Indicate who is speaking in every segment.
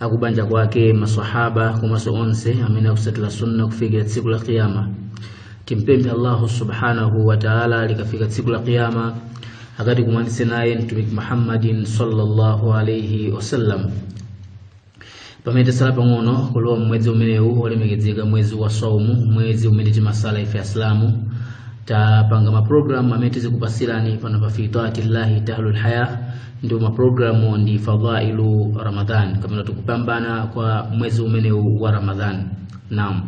Speaker 1: akubanja kwake masahaba komanso onse amene akutsatira sunna kufikira tsiku la qiyama timpemphe allahu subhanahu wa taala likafika tsiku la qiyama akatikumanitse naye mtumiki muhammadin sallallahu alaihi wasallam pamene tasala pang'ono kulowa mwezi umenewu wolemekezeka mwezi wa saumu mwezi umene timasala ife asilamu tapanga maprogramu amene tizikupasirani pano pa fi taatillahi tahlul haya ndipo maprogramu ndi fadhailu ramadhan kapena kuti kupambana kwa mwezi umenewu wa ramadhan naam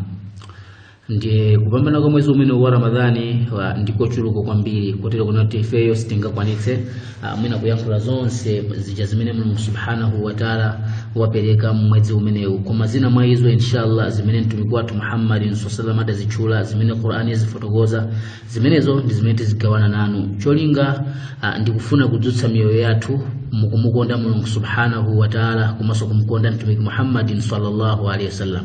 Speaker 1: ndiye kupambana kwa mwezi umenewu wa ramadhani wa- ndikochuluka kwambiri kotero kunena kuti ifeyo sitingakwanitse ah, mwina kuyankhula zonse zija zimene mulungu subhanahu wataala wapereka mmwezi umenewu koma zina mwa izo inshallah zimene mtumiki wathu muhammadin sallallahu alaihi wasallam adazitchula zimene qurani yazifotokoza zimenezo ndi zimene tizigawana nanu cholinga ah, ndi kufuna kudzutsa miyoyo yathu mukumukonda mulungu subhanahu wataala komanso kumkonda mtumiki muhammadin sallallahu alaihi wasallam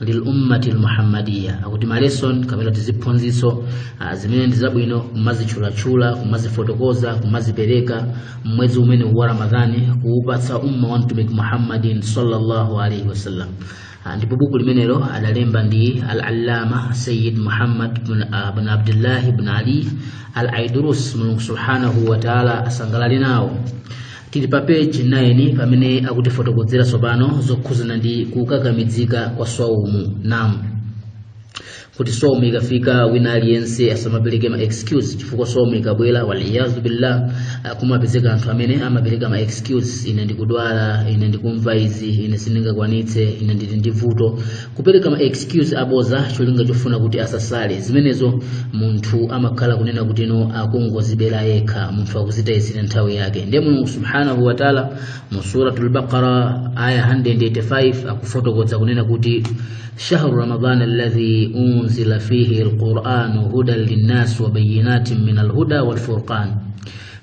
Speaker 1: lil ummati almuhammadiya akuti malesson kapena kuti ziphunzitso zimene ndi zabwino kumazitchulatchula kumazifotokoza kumazipereka mmwezi umene wa ramadhani kuupatsa umma wa mtumiki muhammadin sallallahu alaihi wasallam ndipo buku limenelo adalemba ndi al-allama sayyid muhammad bin abdullah bin ali al-aidrus mulungu subhanahu wa taala asangalale nawo tili pa peji 9 pamene akutifotokozera tsopano zokhuzana ndi kukakamizika kwa swaumu naam kuti swaumu ikafika wina aliyense asamapereke ma excuse chifukwa swaumu ikabwera waliyazu billah kumapezeka anthu amene amapereka ma excuse ine ndikudwala ine ndikumva izi ine sindingakwanitse ine ndili ndi vuto kupereka ma excuse abodza cholinga chofuna kuti asasale zimenezo munthu amakhala kunena kuti no akungodzibera yekha munthu akudzitayitsira nthawi yake ndiye mulungu subhanahu wataala mu suratul baqara aya 185 akufotokoza kunena kuti shahru ramadan alladhi unzila fihi alquranu hudan linnas wa bayinatin min alhuda walfurqan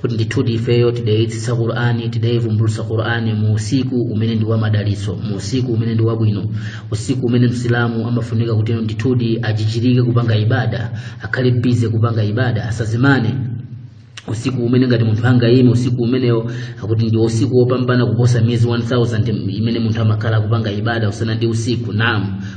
Speaker 1: kuti ndithudi ifeyo tidayitsitsa qur'ani tidayivumbulutsa qur'ani mu usiku umene ndi wamadalitso mu usiku umene ndi wabwino usiku umene msilamu amafunika kuti ndithudi adzichirike kupanga ibada akhale busy kupanga ibada asadzimane usiku umene ngati munthu angaime usiku umenewo akuti ndi usiku wopambana kuposa miyezi 1000 imene munthu amakhala akupanga ibada usana ndi usiku naam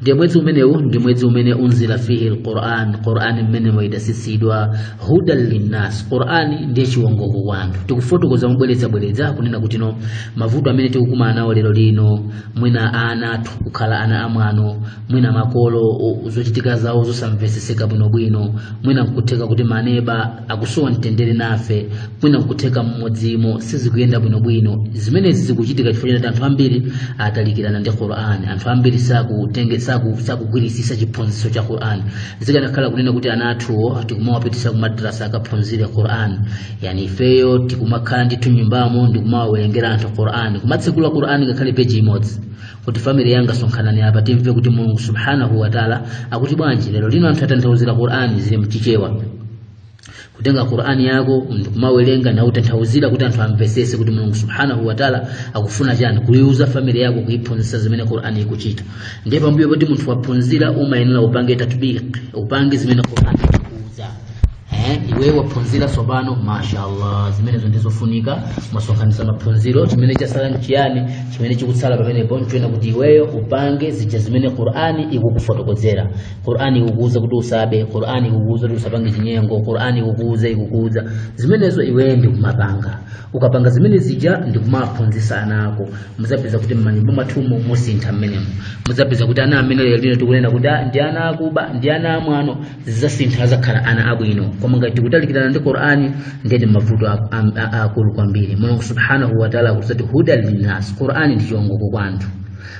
Speaker 1: ndiye mwezi umenewu ndi mwezi umene unzila fihi lquran qurani mmenemo idatsitsidwa hudan linnas qurani ndiye chiwongoko kwa anthu tikufotokoza mobwerezabwereza kunena kuti no mavuto amene tikukumana nawo lero lino mwina ana athu kukhala ana amwano mwina makolo o- zochitika zawo zosamvetsetseka bwinobwino mwina nkutheka kuti maneba akusowa mtendere nafe mwina nkutheka m'mudzimo sizikuyenda bwinobwino zimenezi zikuchitika chifukwa choti anthu ambiri atalikirana ndi qur'an anthu ambiri sakutenge saku- sakugwirisisa chiphunzitso cha qur'an zikanakhala kunena kuti ana athuwo tikumawapitisa kumadrasa akaphunzire qur'an yani ifeyo tikumakhala ndithu mnyumbamo ndikumawawerengera anthu qur'an kumatsekula qur'an ngakhale peji imodzi kuti family yanga sonkhanani apa timve kuti mulungu subhanahu wataala akuti bwanji lero lino anthu atanthauzira qur'ani zili mchichewa kutenga qur'ani yako ndikumawerenga na utanthauzira kuti anthu amvesese kuti mulungu subhanahu wataala akufuna chani kuiuza family yako kuiphunzitsa zimene qur'ani ikuchita ndiye pambuyo poti munthu waphunzira umayenera upange tatbik upange zimene qur'ani Eh, iwe waphunzira tsopano mashallah zimenezo ndizofunika masonkhanisa maphunziro chimene chasala nchiyani chimene chikutsala pamenepo nchoena kuti iweyo upange zija zimene qur'ani ikukufotokozera qur'ani ikukuuza kuti usabe qur'ani ikukuuza kuti usapange chinyengo qur'ani ikukuuza ikukuuza zimenezo iweyo ndikumapanga ukapanga zimene zija ndikumaphunzisa ana ako muzapeza kuti mmanyumba mwathumo musinthe mmenemo muzapeza kuti ana amene lero lino tikunena kuti "Ah, ndi ana akuba ndi ana amwano zidzasintha adzakhala ana abwino koma ngati tikutalikirana ndi qur'ani ndiyeti mavuto a- a- a- aakulu kwambiri mulungu subhanahu wataala akuti huda linnas qur'ani ndi chiwongoko kwa anthu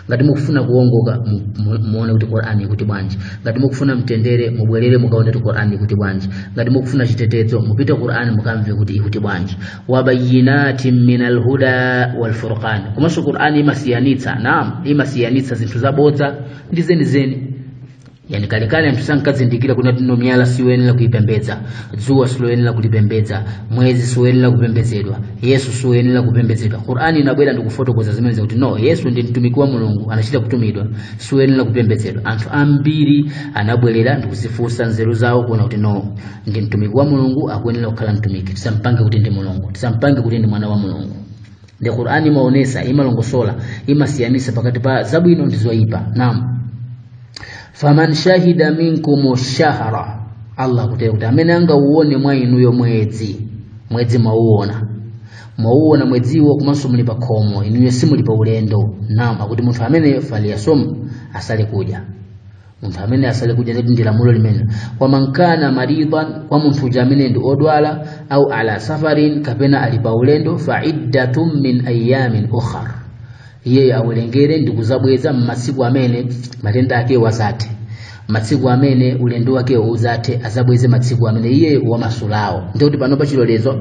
Speaker 1: ngati mukufuna kuwongoka mu- mu- muone kuti qur'ani ikuti bwanji ngati mukufuna mtendere mubwerere mukaone kuti qur'ani ikuti bwanji ngati mukufuna chitetezo mupite qur'ani mukamve kuti ikuti bwanji wabayinatin min alhuda walfurqan komanso qur'ani imasiyanitsa naam imasiyanitsa zinthu zabodza ndi zenizeni yani kalekale anthu sankazindikira kunena kuti no miyala siyoyenera kuipembedza dzuwa siloyenera kulipembedza mwezi siwoyenera kupembedzedwa yesu siwoyenera kupembedzedwa qur'ani inabwera ndikufotokoza zimene zakuti no yesu ndi mtumiki wa mulungu anachita kutumidwa siwoyenera kupembedzedwa anthu ambiri anabwerera ndikuzifunsa nzeru zawo kuona kuti no ndi mtumiki wa mulungu akuyenera kukhala mtumiki tisampange kuti ndi mulungu tisampange kuti ndi mwana wa mulungu nde qur'ani imaonesa imalongosola imasiyanisa pakati pa zabwino ndi zoyipa naam faman shahida minkum shahra allah akutero kuti amene angauone mwa inuyo mwezi mwezi mwauona mwauona mwedziwo komanso muli pa khomo inuyo simuli pa ulendo naam akuti munthu amene faliyasumhu asale kudya munthu amene asale kudya ndeti ndi lamulo limene wamankana maridan kwa munthu uja amene ndi odwala au ala safarin kapena ali pa ulendo fa iddatun min ayamin ukhar iyeyo awerengere ndi kuzabweza m'masiku amene matenda akewo azathe masiku amene ulendo wake uzathe azabweze masiku amene iye wamasulawo ndiye kuti panopa chilolezo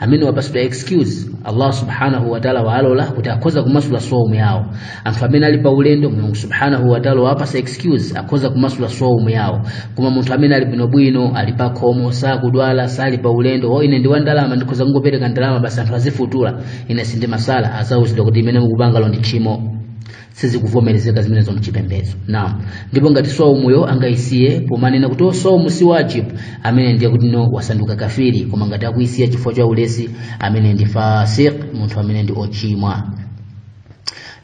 Speaker 1: amene wapasidwa excuse allah subhanahu wataala waalola kuti akhoza kumasula swaumu yawo anthu amene ali pa ulendo mulungu subhanahu wataala wapasa excuse akhoza kumasula swaumu yawo koma munthu amene ali bwinobwino ali pa khomo sakudwala sali pa ulendo o ine ndi wandalama ndikhoza kungopereka ndalama basi anthu azifutula ine sindimasala azauzidwa kuti limene mukupangalo ndi tchimo sizikuvomerezeka zimenezo mchipembedzo naam ndipo ngati swaumu angayisiye pomanena kuti o swaumu si wajib amene ndiye kuti no wasanduka kafiri koma ngati akuyisiya chifukwa cha ulesi amene ndi fasiq munthu amene ndi ochimwa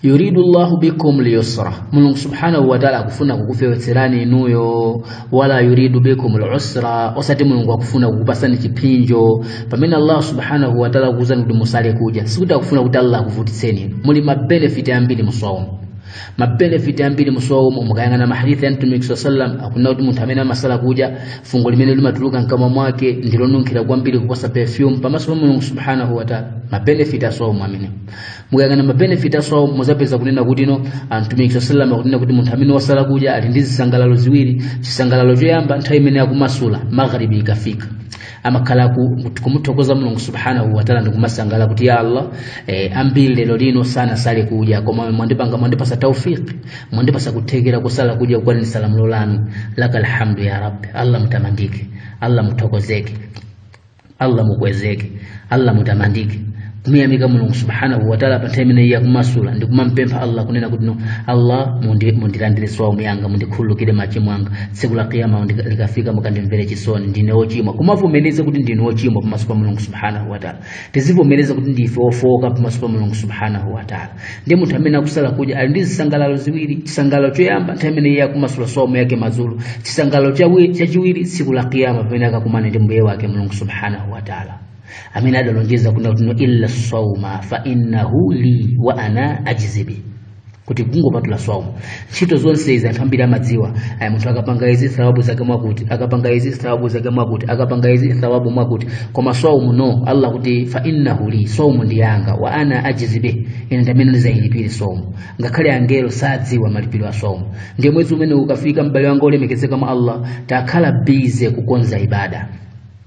Speaker 1: yuridu llahu bikum lyusra mulungu subhanahu wataala akufuna kukufewetserani inuyo wala yuridu bikum al-usra osati mulungu akufuna kukupasani chiphinjo pamene allah subhanahu wa ta'ala akuwuzani kuti musale kudya sikuti akufuna kuti allah akuvutitseni muli ma benefit ambiri muswaumu ma benefit ambiri muswaumu mukayang'ana mahadithi ya mtumiki saa sallam akunena kuti munthu amene amasala kudya fungo limene limatuluka mkamwa mwake ndilonunkhira kwambiri kuposa perfume pamaso pa mulungu subhanahu wa ta'ala ma benefit a swaumu amene mukayang'ana mabenefit a swaumu muzapeza kunena kuti no mtumiki saa sallam akunena kuti munthu amene wasala kudya ali ndi zisangalalo ziwiri chisangalalo choyamba nthawi imene akumasula magharibi ikafika amakhala kumuthokoza mulungu subhanahu wataala ndikumasangala kuti ya allah eh, ambiri lero lino sanasale kudya koma mwandipanga mwandipasa taufiki mwandipasa kuthekera kusala kudya kwaniritsa lamulo lanu lakal hamdu ya rabbi allah mutamandike allah muthokozeke allah mukwezeke allah mutamandike kumuyamika mulungu subhanahu wataala pa nthawi imene iye akumasula ndi kumampempha allah kunena kuti no allah mundi- mundilandire swaumu yanga mundikhululukire machimo anga tsiku la kiyama ndi- likafika mukandimvere chisoni ndine ochimwa kumavomereza kuti ndine ochimwa pamaso pa mulungu subhanahu wataala tizivomereza kuti ndife ofooka pamaso pa mulungu subhanahu wataala ndiye munthu amene akusala kudya ali ndi zisangalalo ziwiri chisangalalo choyamba nthawi imene iye akumasula swaumu yake madzulo chisangalalo chawi- chachiwiri tsiku la kiyama pamene akakumana ndi mbuye wake mulungu subhanahu wa taala amene adalonjeza kunena kuti no illa sauma fa innahu li wa ana ajizi bih kuti kungopatula swaumu ntchito zonse izi anthu ambiri amadziwa aya munthu akapanga izi thawabu zake mwakuti akapanga izi thawabu zake mwakuti akapanga izi thawabu mwakuti koma swaumu no allah akuti fa innahu li swaumu ndi yanga wa ana ajizi bih ine ndamene ndizayilipire swaumu ngakhale angelo sadziwa malipiro a swaumu ndiye mwezi umene ukafika m'bale wanga olemekezeka mwa allah takhala busy kukonza ibada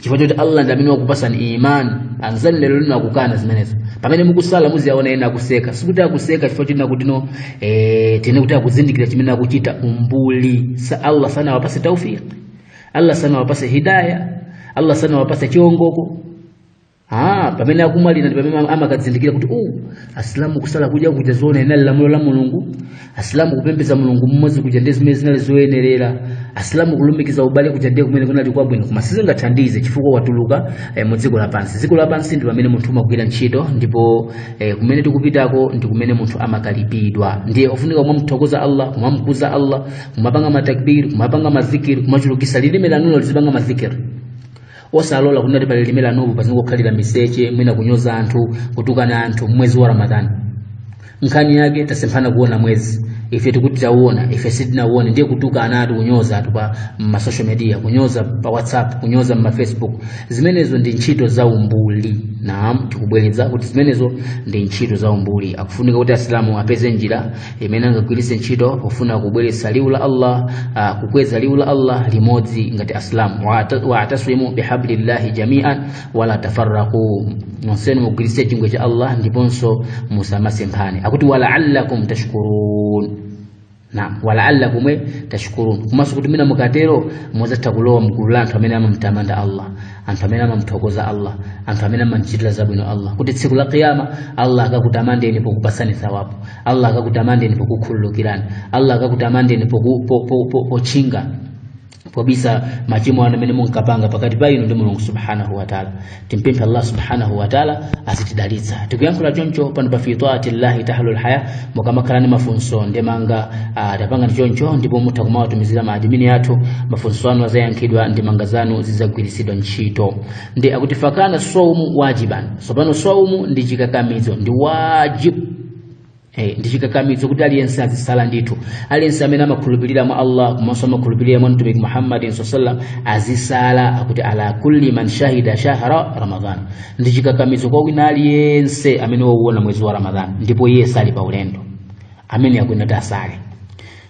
Speaker 1: chifukwa choti allah ndi amene wakupasani imani anzani lero lino akukana zimenezo pamene mukusala muziwaona ena akuseka sikuti akuseka chifukwa choti kunena kuti no eh, tinene kuti akuzindikira chimene akuchita umbuli sa allah sanawapase taufiki allah sanawapase hidaya allah sanawapase chiongoko Ah, pamene akumwalira ndi pamene ama- amakazindikira kuti uh, asilamu kusala kuja kuja zoona inali lamulo la mulungu asilamu kupembeza mulungu mmodzi kuja ndi zimene zinali zoyenerera asilamu kulumikiza ubale kuja ndiye kumene kunali kwabwino koma sizingathandize chifukwa watuluka eh, mu dziko lapansi dziko lapansi ndi pamene munthu umagwira ntchito ndipo eh, kumene tikupitako ndi kumene munthu amakalipidwa ndiye ofunika kumamuthokoza allah kumamkuza allah kumapanga matakbiri kumapanga mazikiri kumachulukisa lilime lanulo lizipanga mazikiri osalola kunena kuti pa lilime lanupo pazingokhalira miseche mwina kunyoza anthu kutukana anthu mwezi wa ramadhani nkhani yake tasemphana kuona mwezi ife tikuti tauona ife sitinauone ndiye kutukana anthu kunyoza anthu pa masocial media kunyoza pa whatsapp kunyoza mmafacebook zimenezo ndi ntchito za umbuli naam tikubwereza kuti zimenezo ndi ntchito za umbuli akufunika kuti asilamu apeze njira imene angagwiritse ntchito pofuna kubweretsa liwu la allah uh, kukweza liwu la allah limodzi ngati asilamu waatasimu wa bihablillahi jamian wala tafarraku nonsenu mugwiritse chingwe cha allah ndiponso musamasemphane akuti walaallakum tashkurun naam walaallakum tashkurun komanso kuti mwina mukatero muzatha kulowa mgulu la anthu amene amamtamanda allah anthu amene amamthokoza allah anthu amene amamchitira zabwino allah kuti tsiku la kiyama allah akakutamandeni pokupasani thawabu allah akakutamandeni pokukhululukirani allah akakutamandeni poku- po- po- po- pochinga pobisa machimo anu amene munkapanga pakati pa inu ndi mulungu subhanahu wataala timpemphe allah subhanahu wataala azitidalitsa tikuyankhula choncho pano pa fitaati llahi tahlul haya mukamakhala ndi mafunso ndemanga ah, tapanga choncho ndipo mutha kumawatumizira maadimini athu mafunso anu azayankhidwa ndemanga zanu zizagwiritsidwa ntchito ndiye akuti fakana saumu wajiban sopano saumu ndi chikakamizo ndi wajibu Eh, ndi chikakamizo kuti aliyense azisala ndithu aliyense amene amakhulupirira mwa allah komanso amakhulupirira mwa mtumiki muhammadin salla allahu alayhi wasallam azisala akuti ala kulli man shahida shahra ramadan ndi chikakamizo kwa wina aliyense amene wauona mwezi wa ramadan ndipo iye sali pa ulendo ameneyo akuyenera kuti asale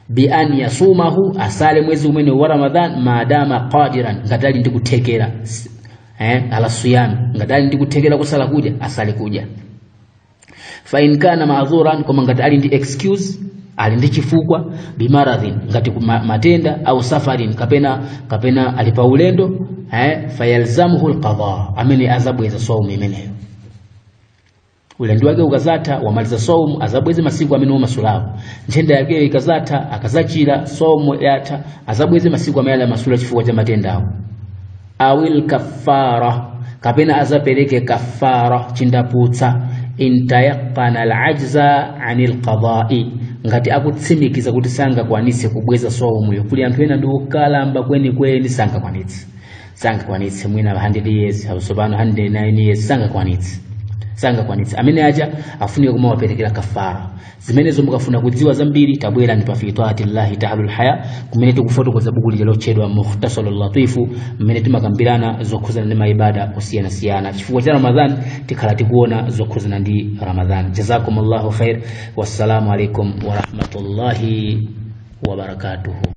Speaker 1: bi an yasumahu asale mwezi umenewu wa ramadan maadama qadiran ngati ali ndi kuthekera eh, ala siyami ngati ali ndi kuthekera kusala kudya asale kudya fa in kana ma'dhuran koma ngati ali ndi excuse ali ndi chifukwa bimaradhin ngati kuma- matenda au safarin kapena kapena ali pa ulendo eh fayalzamuhu alqada ameneyo azabweza saumu imeneyo ulendo wake ukazatha wamaliza saumu azabweze masiku amene unamasulawo nthenda yake ikazatha akazachira saumu yatha azabweze masiku amene anamasula chifukwa cha matendawo awil kaffara kapena azapereke kafara chinthu chabwino intayaqana alajza anil qada'i ngati akutsimikiza kuti sangakwanitse kubweza saumuyo kuli anthu ena ndi okalamba kwenikweni sangakwanitse sangakwanitse mwina 100 years akusopano 109 years sangakwanitse sangakwanitse amene aja afunike kumawaperekera kafara zimenezo mukafuna kudziwa zambiri tabwera ndi fi taatillahi tahlul haya kumene tikufotokoza buku lija lotchedwa mukhtasarul latifu mmene timakambirana zokhuzana ndi maibada osiyanasiyana chifukwa cha ramadhan tikhala tikuona zokhuzana ndi ramadhan jazakum llahu khair wassalamu alaikum warahmatullahi wabarakatuhu